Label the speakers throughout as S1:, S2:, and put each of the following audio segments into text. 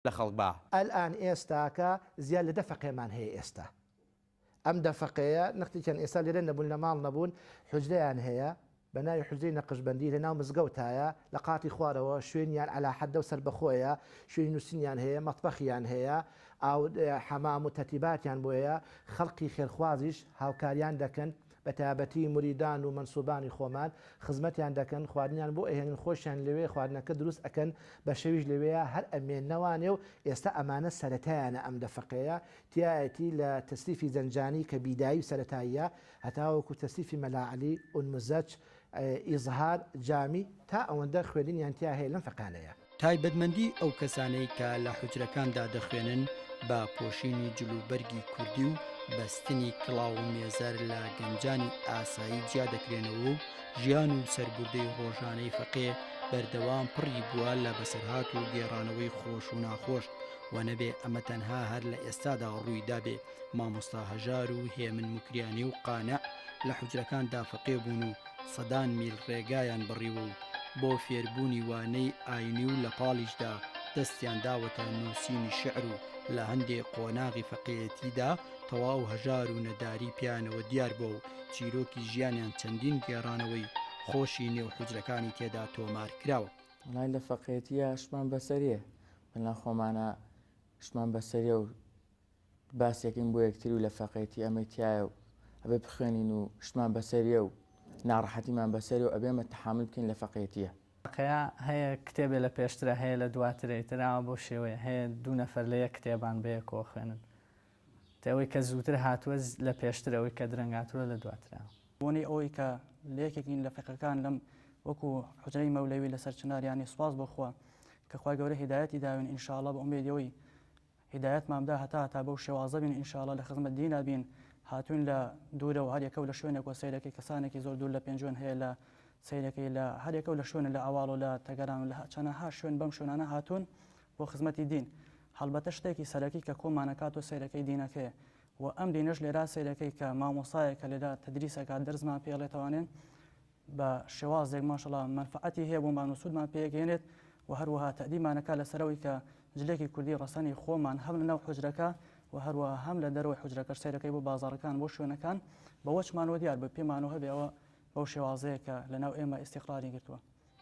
S1: لە خەڵک با. ئەلئان ئێستا
S2: کە زیاد لە دە فەقێمان هەیە ئێستا ئەم دە فەقێیە نەختیکیان ئێستا لێرە نەبوون لە ماڵ نەبوون حوجرەیان هەیە بە ناوی حوجرەی نەقشبەندی لە ناو مزگەوتایە لە قاتی خوارەوە شوێنیان عەلا حەدە و سەربەخۆیە شوێنی نووسینیان هەیە مەتبەخیان هەیە ئاو حەمام و تەرتیباتیان بۆیە خەڵقی خێرخوازیش هاوکاریان دەکەن بەتایبەتی موریدان و مەنسوبانی خۆمان خزمەتیان دەکەن خواردنیان بۆ ئەهێنن خۆشیان لەوێ خواردنەکە دروست ئەکەن بە شەویش لەوێیا هەر ئەمێننەوانێ و ئێستا ئەمانە سەرەتایانە ئەم دەفەقەیە تیایەتی لە تەسریفی زەنجانی کە بیدایی و سەرەتاییە هەتاوەکو تەسریفی مەلا عەلی ئونمزەچ ئیزهار جامی، تا ئەوەندە خوێندنیان تیا هەیە لەم فەقانەیە. تایبەتمەندی ئەو
S3: کەسانەی کە لە حوجرەکاندا دەخوێنن بە پۆشینی جل و بەرگی کوردی و بەستنی کڵاو و مێزەر لە گەنجانی ئاسایی جیا دەکرێنەوە و ژیان و سەرگوردەی ڕۆژانەی فەقێ بەردەوام پڕی بووە لە بەسەرهات و گێڕانەوەی خۆش و ناخۆش و نەبێ ئەمە تەنها هەر لە ئێستادا ڕووی دابێ مامۆستا هەژار و هێمن مکریانی و قانع لە حجرەکان دافەقێ بوون و سەدان میل ڕێگایان بڕیوە و بۆ فێربوونی وانەی ئاینی و لە پاڵیشدا دەستیان داوەتە نووسینی شعر و لە هەندێ قۆناغی فەقێتیدا تەواو هەژار و نەداری پیانەوە دیار بۆ و چیرۆکی ژیانیان چەندین گێڕانەوەی خۆشی نێو حجرەکانی تێدا تۆمار کراوە وڵای لە فەقێتیە
S4: شمان بەسەریە بەنا خۆمانە شمان بەسەریە و باسێکین بۆ یەکتری و لە فەقێتی ئەمەی تایە و ئەبێ بخوێنین و شتمان بەسەریە و ناڕەحەتیمان بەسەری و ئەبێمە تەحامل بکەین لە فەقێتیە. فەقێیا هەیە
S5: کتێبێ لە پێشترە هەیە لە دواترە ئیتر ئاوا بەو شێوەیە هەیە دوو نەفەر لە یەک کتێبان بەیەکەوە خوێنن تە ئەوەی کە زووتر هاتووە لە پێشترە ئەوەی کە درەنگ هاتووە لە دواترە. بۆنەی ئەوەی کە
S6: لە یەکێکین لە فەقێکان لەم وەکو حوجرەی مەولەوی لەسەر چنار یانی سوپاس بۆ خوا کە خوای گەورە هیدایەتی داوین ان شاءاللە بە ئومێدی ئەوەی هیدایەتمان بدا هەتا هەتا بەو شێوازە بین انشااللە لە خزمەت دینا بین هاتوین لە دورەوە هەر یەکەو لە شوێنێک وە سەیرەکەی کەسانێکی زۆر دور لە پێنجوێن هەیە لە سەیرەکەی لە هەر یەکەو لە شوێنێ لە ئەواڵ و لە تەگەران و لە چەنەها شوێن بەم شوێنانە هاتون بۆ خزمەتی دین هەڵبەتە شتێکی سەرەکی کە کۆمان ئەکات و سەیرەکەی دینەکەیە وە ئەم دینەش لێرا سەیرەکەی کە مامۆستایەک کە لێرا تەدریس ئەکات دەرسمان پێ ئەڵێ توانێ بە شێوازێک ماشەڵا مەنفەعەتی هەیە بۆمان و سوودمان پێگەیەنێت و هەروەها تەئدیبمان ئەکات لەسەر ئەوەی کە جلێکی کوردی ڕەسەنی خۆمان هەم لەناو حوجرەکە و هەروەها هەم لە دەرەوەی حوجرەکەش سەیرەکەی بۆ بازاڕەکان بۆ شوێنەکان بەوەچمانەوە دیار بە پێمانەوە هەبێ ئەوە بەو شێوازەیە کە لەناو ئێمە ئیستیقراری گرتووە.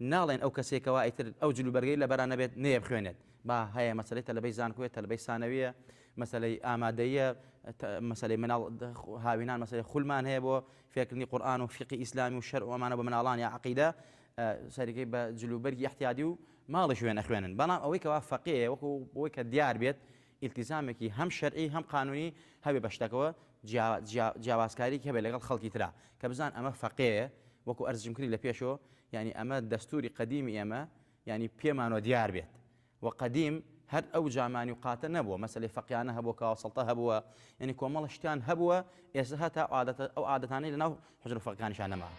S1: ناڵێن ئەو کەسەی کەوا ئیتر ئەو جل و بەرگەی لەبەرا نەبێت نەیەبخوێنێت با هەیە مەسەلەی تەلەبەی زانکۆیە تەلەبەی سانەویە مەسەلەی ئامادەییە مەسەلەی مناڵ هاوینان مەسەلەی خولمان هەیە بۆ فێرکردنی قورئان و فیقی ئیسلامی و شەرع و ئەمانە بۆ مناڵان یا عەقیدە سەرەکی بە جل و بەرگی ئیحتیادی و ماڵیش وێنە خوێنن بەڵام ئەوەی کەوا فەقێیە وەکو بۆی کە دیار بێت ئیلتیزامێکی هەم شەرعی هەم قانونی هەبێ بە شتەکەوە جیا جیا جیاوازکاریەکی هەبێ لەگەڵ خەڵکی ترا کە بزان ئەمە فەقێیە وەکو ئەرز جمکری لە پێشەوە یانی ئەمە دەستوری قەدیمی ئێمە یانی پێمانەوە دیار بێت وە قەدیم هەر ئەو جامانی و قاتە نەبووە مەسەلەی فەقیانە هەبووە کاوە سەڵتە هەبووە یانی کۆمەڵە شتیان هەبووە ئێستا هەتا عادەتە ئەو عادەتانەی لەناو حوجرە فەقێکانیشیان نەما.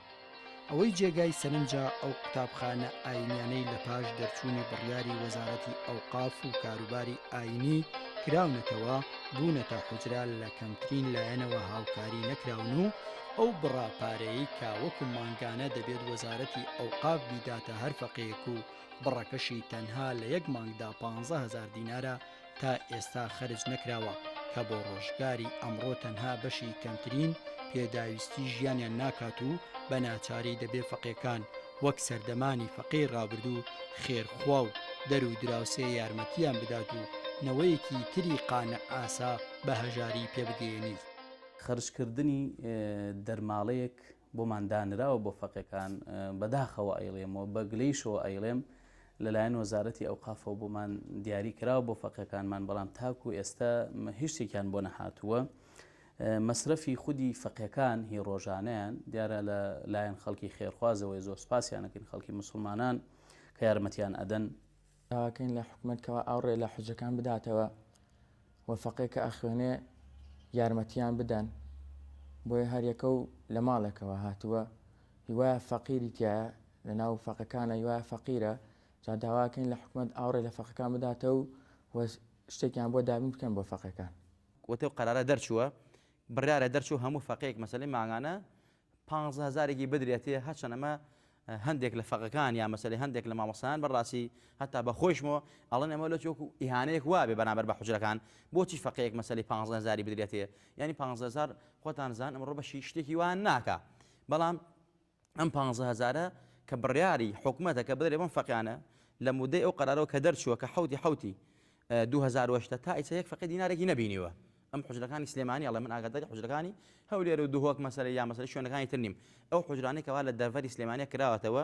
S1: ئەوەی جێگای
S3: سەرنجە ئەو قوتابخانە ئاینیانەی لە پاش دەرچوونی بڕیاری وەزارەتی ئەوقاف و کاروباری ئاینی کراونەتەوە بوونەتە حجرا لە کەمترین لایەنەوە هاوکاری نەکراون و ئەو بڕا پارەیە کە وەکو مانگانە دەبێت وەزارەتی ئەوقاف بیداتە هەر فەقەیەک و بڕەکەشی تەنها لە یەک مانگدا 15هزار دینارە تا ئێستا خەرج نەکراوە کە بۆ ڕۆژگاری ئەمڕۆ تەنها بەشی کەمترین پێداویستی ژیانیان ناکات و بە ناچاری دەبێ فەقێکان وەک سەردەمانی فەقێی ڕابردوو خێرخوا و دەر و دراوسێ یارمەتیان بدات و نەوەیەکی تری قانع ئاسا بە هەژاری پێ بگەیەنیت. خەرجکردنی
S7: دەرماڵەیەک بۆمان دانراوە بۆ فەقێکان، بەداخەوە ئەیڵێم و بە گلەیشەوە ئەیڵێم، لەلایەن وەزارەتی ئەوقافەوە بۆمان دیاری کراوە بۆ فەقێکانمان بەڵام تاکو ئێستا هیچ شتێکیان بۆ نەهاتووە مەسرەفی خودی فەقێکان هی ڕۆژانیان دیارە لە لایەن خەڵکی خێرخوازەوەی زۆر سپاسیانەکەین خەڵکی مسلمانان کە یارمەتیان ئەدەن داواکەین لە
S4: حکومت کەوا ئاوڕێ لە حجەکان بداتەوە و فەقێ کە ئەخوێنێ یارمەتیان بدەن بۆیە هەریەکە و لە ماڵێکەوە هاتووە هیوایە فەقیری تایە لە ناو فەقەکانە یوایە فەقیرە جا داواکەین لە حکومەت ئاوڕێ لە فەقەکان بداتە و و شتێکیان بۆ دابین بکەن بۆ فەقێکان. وتەو قەرارە
S1: دەرچووە بڕیارە دەرچوو هەموو فەقێک مەسەلەی مانگانە پانزە هەزارێکی بدرێتێ هەرچەن ئەمە هەندێک لە فەقەکان یا مەسەلەی هەندێک لە مامۆسایان بەڕاستی هەتا بە خۆیشمەوە ئەڵێن ئەمە لۆ چۆکو ئیهانەیەک وابێ بەرامبەر بە حوجرەکان بۆچی فەقێک مەسەلەی پانزە هەزاری بدرێتێ یانی پانزە هەزار خۆتان زان ئەمڕۆ بەشی شتێکی وان ناکا بەڵام ئەم پانزە هەزارە کە بڕیاری حکومەتە کە بدرێ بەم فەقیانە لە مودەی ئەو قەرارەوە کە دەرچووە کە حەوتی حەوتی دوو هەزار و هەژدە تا ئیسە یەک فەقی دینارێکی نەبینیوە ئەم حوجرەکانی سلێمانی ئەڵێ من ئاگاداری حوجرەکانی هەولێر و دهۆک مەسەلە یا مەسەلە شوێنەکانی تر نیم ئەو حوجرانەی کەوا لە دەڤەری سلێمانە کراوەتەوە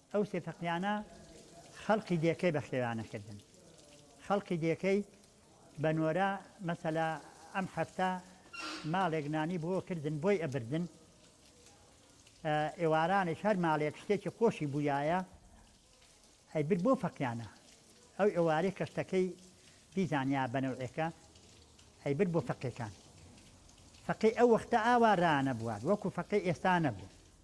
S8: ئەو سێ فەقیانە خەڵقی دێکەی بە خێوانە کردن خەڵقی دێکەی بە نۆرە مەسەلا ئەم هەفتە ماڵێک نانی بۆ کردن بۆی ئەبردن ئێوارانێک هەر ماڵێک شتێکی خۆشی بووایە هەیبر بۆ فەقیانە ئەو ئێوارەی کەشتەکەی بیزانیا بەنەوعێکە هەیبر بۆ فەقیەکان فەقی ئەو وەختە ئاوا رانە بووات وەکو فەقی ئێستا نەبوو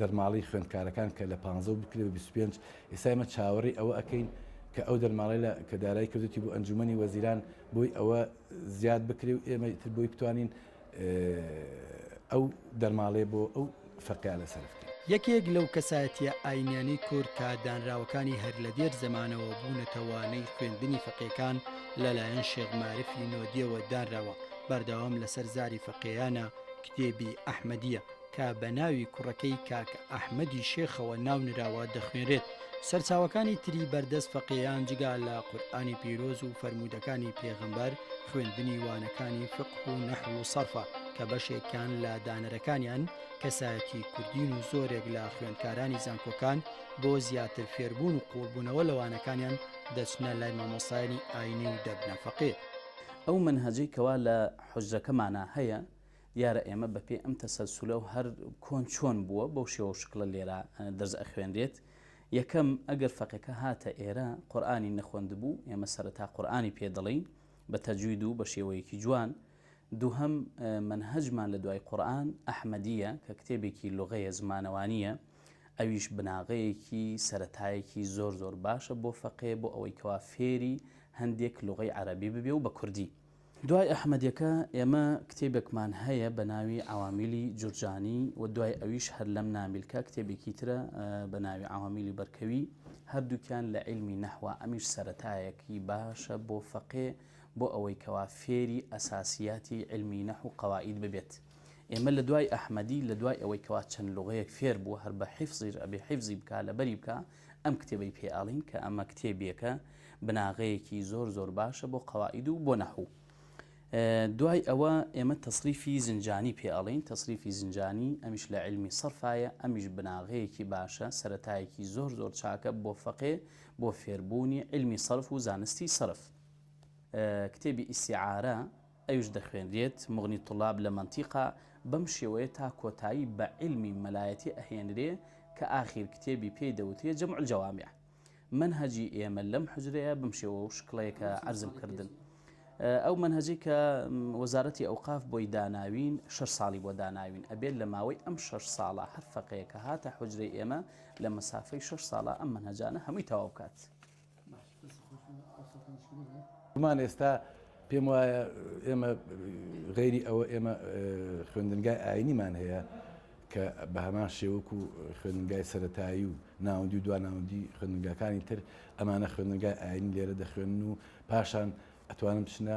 S9: دەرماڵەی خوێندکارەکان کە لە پانزە بکرێت بە بیست و پێنج، ئێستا ئێمە چاوەڕێی ئەوە ئەکەین کە ئەو دەرماڵەی لە کە دارایی کردوتی بۆ ئەنجومەنی وەزیران بۆی ئەوە زیاد بکرێ و ئێمە تر بۆی بتوانین ئەو دەرماڵێ بۆ ئەو فەرقیا لە سەرف کرد. یەکێک لەو
S3: کەسایەتیە ئاینیانەی کورد کە دانراوەکانی هەر لە دێر زەمانەوە بوونەتە وانەی خوێندنی فەقێکان لە لایەن شێخ مارفی نۆدیەوە دانراوە، بەردەوام لەسەر زاری فەقێیانە کتێبی ئەحمەدیە. کە بە ناوی کوڕەکەی کاک ئەحمەدی شێخەوە ناو نراوە دەخوێنرێت، سەرچاوەکانی تری بەردەست فەقێیان جگا لە قورئانی پیرۆز و فەرموودەکانی پێغەمبەر، خوێندنی وانەکانی فقه و نەحو و سەرفە کە بەشێکیان لە دانەرەکانیان کەسایەتی کوردین و زۆرێک لە خوێندکارانی زانکۆکان بۆ زیاتر فێربوون و قووڵبوونەوە لە وانەکانیان دەچنە لای مامۆستایانی ئاینی و دەبنە فەقێ. ئەو مەنهەجەی
S7: کەوا لە حوجرەکەمانا هەیە، دیارە ئێمە بە پێی ئەم تەسەلسولە و هەر کۆن چۆن بووە بەو شێوە و شکڵە لێرە دەرس ئەخوێنرێت. یەکەم، ئەگەر فەقێکە هاتە ئێرە قورئانی نەخوەندبوو، ئێمە سەرەتا قورئانی پێ دەڵێین بە تەجوید و بە شێوەیەکی جوان. دووهەم، مەنهەجمان لە دوای قورئان ئەحمەدییە کە کتێبێکی لوغەیە، زمانەوانییە، ئەویش بناغەیەکی، سەرەتایەکی زۆر زۆر باشە بۆ فەقێ بۆ ئەوەی کەوا فێری هەندێک لوغەی عەرەبی ببێ و بە کوردی. دوای ئەحمەدیەکە ئێمە کتێبێکمان هەیە بە ناوی عەوامیلی جورجانی و دوای ئەویش هەر لەم نامیلکە کتێبێکی ترە بە ناوی عەوامیلی بەرکەوی هەردووکیان لە عیلمی نەحوە ئەمیش سەرەتایەکی باشە بۆ فەقێ بۆ ئەوەی کەوا فێری ئەساسیاتی عیلمی نەحو و قەوائید ببێت ئێمە لە دوای ئەحمەدی لە دوای ئەوەی کەوا چەند لوغەیەک فێر بووە هەر بە حیفزیش ئەبێ حیفزی بکا لەبەری بکا ئەم کتێبەی پێ ئەڵێن کە ئەمە کتێبێکە بناغەیەکی زۆر زۆر باشە بۆ قەواعید و بۆ نەحوو دوای ئەوە ئێمە تەصریفی زنجانی پێ ئەڵین تەصریفی زنجانی ئەمیش لە علمی سەرفایە ئەمیش بناغەیەکی باشە سەتایەکی زۆر زۆر چاکە بۆ فەقێ بۆ فێربوونی علمی سەرف و زانستی سەرف کتێبی ئیسیعاە ئەویش دەخوێنرێت، مغنی طلاب لە منطقە، بەم شێوەیە تا کۆتایی بە عیلمی مەلایەتی ئەهێنرێ کە ئاخیر کتێبی پێی دەوترێ جمع الجوامع. مەنهەجی ئێمە لەم حوجرەیە بەم شێوە و شکڵەیە کە عەرزم کردن. ئەو مەنهەجەی کە وەزارەتی ئەوقاف بۆی داناوین شەش ساڵی بۆ داناوین ئەبێت لە ماوەی ئەم شەش ساڵە هەر فەقێیەک کە هاتە حوجرەی ئێمە لە مەسافەی شەش ساڵە ئەم مەنهەجانە هەمووی تەواو بکات.
S9: من ئێستا پێم وایە ئێمە غەیری ئەوە ئێمە خوێندنگای ئاینیمان هەیە کە بە هەمان شێوەک و خوێندنگای سەتایی و ناوەندی و دواناوەندی خوێندنگاکانی تر ئەمانە خوێندنگای ئاینی لێرە دەخوێن و پاشان ئەتوانم بچنە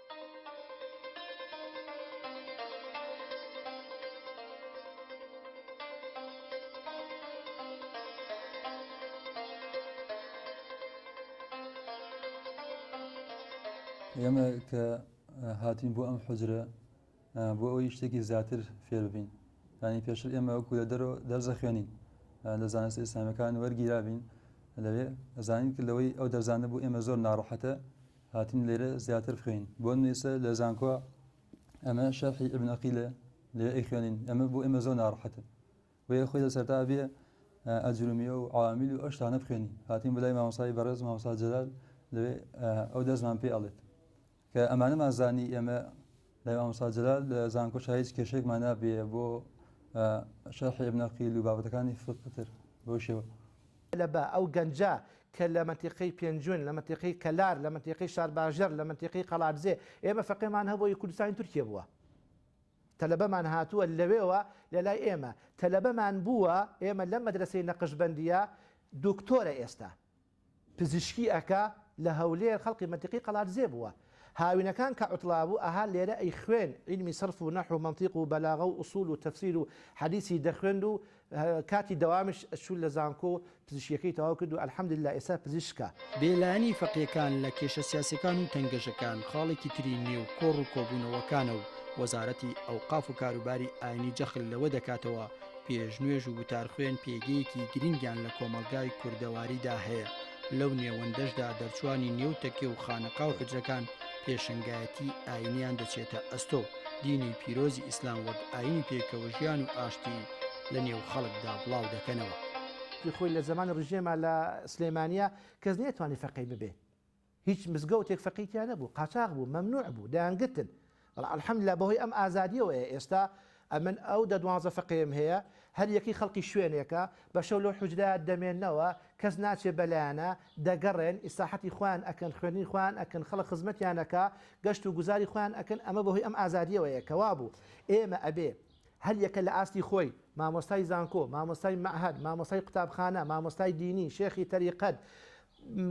S10: ئێمە کە هاتین بۆ ئەم حجرە بۆ ئەوی شتێکی زیاتر فێربین ینی پێشتر ئێمە وەکو لە دەرەوە دەرزە خوێنین لە زانست ئیسلامیەکان وەرگیرابین لەوێ ئەزانین کرد لەوەی ئەو دەرزانە بوو ئێمە زۆر ناڕەحەتە هاتین لێرە زیاتر بخوێین بۆ نوێسە لە زانکۆ ئەمە شەرحی ئبن ئەقیلە لێ ئەیخوێنین ئەمە بۆ ئێمە زۆر ناڕحەتە بۆیە خۆی لە سەرتا بێ ئەجرومیە و عامیل و ئەشتانە بخوێنی هاتین بلای مامۆسای بەڕێز مامۆسا جەلال لەوێ ئەو دەستمان پێ ئەڵێت کە ئەمانەمان زانی ئێمە لای مامۆستا جەلال لە زانکۆشا هیچ کێشەیەکمان نابێ بۆ شەرحی ابن عقیل و بابەتەکانی فقهتر بەو شێوە. لە با ئەو
S2: گەنجە کە لە مەنتیقەی پێنجوێن، لە مەنتیقەی کەلار، لە مەنتیقەی شارباژێڕ، لە مەنتیقەی قەڵادزێ، ئێمە فەقێمان هەبووە ی کوردستانی تورکیە بووە. تەلەبەمان هاتووە لەوێوە لە لای ئێمە تەلەبەمان بووە، ئێمە لەم مەدرەسەی نەقشبەندییە دوکتۆرە ئێستا. پزیشکی ئەکا لە هەولێر خەڵقی مەنتیقی قەڵادزێ بووە هاوینەکان کە عوتڵابوو ئەها لێرە ئەی خوێن عیلمی سەرف و نەحو و مەنتیق و بەلاغە و ئوسول و تەفسیر و حەدیسی دەخوێند و کاتی دەوامیش ئەچوو لە زانکۆ پزیشکیەکەی تەواو کرد و الحمدللە ئێستا پزیشکە. بێ لایەنی
S3: فەقێکان لە کێشە سیاسیەکان و تەنگەژەکان خاڵێکی تری نێو کۆڕ و کۆبوونەوەکانە و وەزارەتی ئەوقاف و کاروباری ئاینی جەخل لەوە دەکاتەوە پێشنوێژ و وتارخوێن پێگەیەکی گرنگیان لە کۆمەڵگای کوردەواریدا هەیە لەو نێوەندەشدا دەرچوانی نێو تەکێ و خانەقا و حجرەکان پێشنگایەتی ئاینیان دەچێتە ئەستۆ دینی پیرۆزی ئیسلام وەک ئاینی پێکەوە ژیان و ئاشتی لە نێو خەڵکدا بڵاو دەکەنەوە. خۆی لە
S2: زەمانی ڕژێما لە سلێمانیە کەس نەیەتوانی فەقێی ببێ. هیچ مزگەوتێک فەقێی تیا نەبوو قاچاغ بوو مەمنوع بوو دەیانگرتن بەڵام الحمدللە بەهۆی ئەم ئازادیەوەیە ئێستا ئەمن ئەو دە دوانزە فەقێم هەیە هەر یەکەی خەڵکی شوێنێکە بە شەو لەو حوجرە دەمێنەوە کەس ناچێ بەلایانا دەگەڕێن ئیسراحەتی خۆیان ئەکەن خوێندنی خۆیان ئەکەن خەڵک خزمەتیان ئەکا گەشت و گوزاری خۆیان ئەکەن ئەمە بەهۆی ئەم ئازادیەوەیە کە وابوو ئێمە ئەبێ هەر یەکە لە ئاستی خۆی مامۆستای زانکۆ مامۆستای مەعهەد مامۆستای قوتابخانە مامۆستای دینی شێخی تەریقەت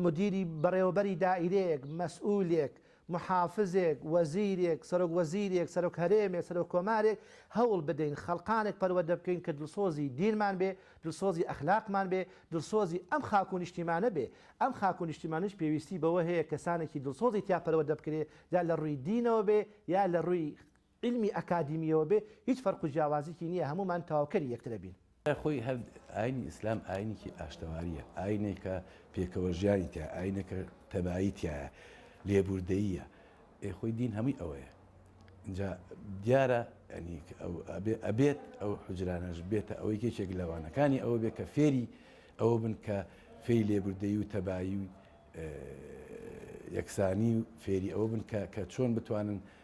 S2: مدیری بەڕێوەبەری دائیرەیەک، مەسئولێک، محافزێک، وەزیرێک، سەرۆک وەزیرێک، سەرۆک هەرێمێک، سەرۆک کۆمارێک، هەوڵ بدەین خەڵقانێک پەروەردە بکەین کە دڵسۆزی دینمان بێ، دڵسۆزی ئەخلاقمان بێ، دڵسۆزی ئەم خاک و نیشتیمانە بێ. ئەم خاک و نیشتیمانەش پێویستی بەوە هەیە کەسانێکی دڵسۆزی تیا پەروەردە بکرێ، جا لە ڕووی دینەوە بێ یا لە ڕووی. عیلمی ئەکادیمیەوە بێ هیچ فەرق و جیاوازیکی نیە هەموومان تەواوکەری یەکترە بین. لای خۆی هەر
S9: ئاینی ئیسلام ئاینیکی ئاشتەواریە ئاینێکە پێکەوە ژیانی تیایە ئاینێکە تەبایی تیایە لێبوردەییە ئێ خۆی دین هەمووی ئەوەیە ئینجا دیارە ینی ئەو ئەبێ ئەبێت ئەو حجرانەش بێتە ئەوەی یەکێک لە وانەکانی ئەوە بێ کە فێری ئەوە بن کە فێری لێبوردەیی و تەبایی و یەکسانی و فێری ئەوە بن کە کە چۆن بتوانن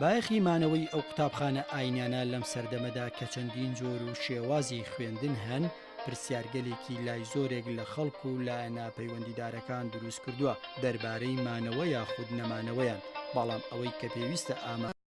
S3: بایەخی مانەوەی ئەو قوتابخانە ئاینانە لەم سەردەمەدا کە چەندین جۆر و شێوازی خوێندن هەن پرسیارگەلێکی لای زۆرێک لە خەڵک و لایەنە پەیوەندیدارەکان دروست کردووە دەربارەی مانەوە یاخود نەمانەوەیان بەڵام ئەوەی کە پێویستە ئامە